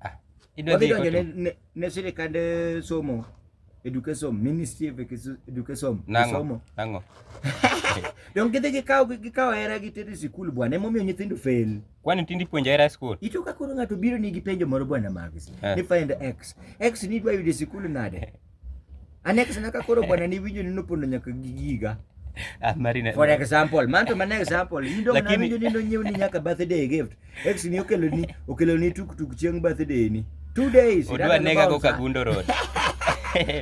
Ah, idwa Wadhi dhi donjo ne, kotu. ne, ne sirikand eh, somo education ministry of Ekisu- education Nang'o? somo Nang'o? donge gidhi gikawo gikawo hera gitero e sikul bwana emomiyo nyithindo fail Kwani tindi puonja era school? ito ka koro ng'ato biro nigi penjo moro bwana Mavis Eh. ni find x x ni idwa yudo e sikul nade Aneksa na ka koro bwana ni winjo ni nopondo nyaka gi giga. Ah, Marina. For example, man to man example, in dong na Lakini- winjo ni nonyiew ni nyaka birthday gift. Ex ni okelo ni okelo ni tuk tuk chieng birthday ni. Two days. Odwa nega go Kagundo Road.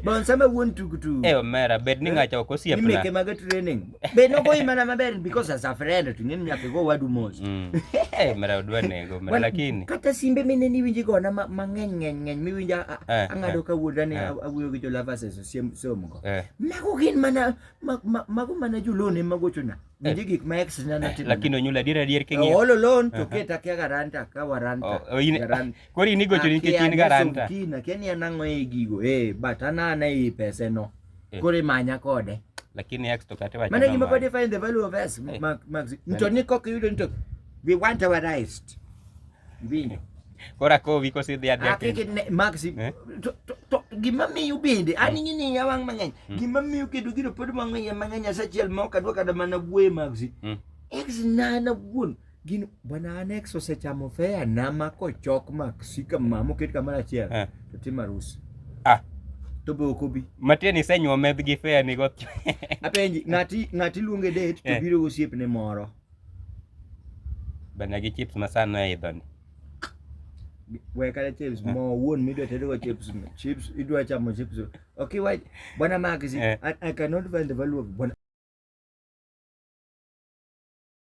Bon sama wuon tuk tuk. Eh omera bed ni ng'acha ok Ni meke osiepna. mag training. Be no goyi mana maber because as a friend to ng'eni nyaka go wadu mos. Mm. Eh, mara odwa nego, mara lakini. Kata simbe mine ni winji gona mang'eny ng'eny ng'eny miwinja eh, ang'ado eh, ka wuoda ni eh. awuoyo gi jolava seso somo go. Mago gin mana mago mana jolone magochona. Winji gik ma ex na natimo. Lakini onyula adier adier king'iyo. All alone to keta kia garanta ka waranta. Oh, oh, Kori ni gocho nikech in garanta. Kia ni anang'o e gigo. Eh, but anana e pese no. eh. kore manya kode lakini x to kate wacha maana nimekuwa define the value of s eh. max mto niko kiyudo nito we want our rights bini kora ko wiko si dia dia akike max eh? to to gima miyo bende hmm. ani ngini ya wang mang'eny hmm. gima miyo kedo giro pod mang'eny mang'eny asachiel ma okadwa kada mana wuoye max hmm. x nana wuon gin bwana annex osechamo fea nama kochok maksika mama oket kamoro achiel Eh. to tim arus Ah. to be ok obi matieni isenyuo medh gi fea ni go apenji ng'ati ng'ati luonge date to Eh. biro gosiepne moro bana gi chips masano e idhoni we kata chips Eh. mo wuon midwa tedogo chips no. chips idwa chamo chips no. okay why bwana maxi Eh. I, i cannot find the value of bwana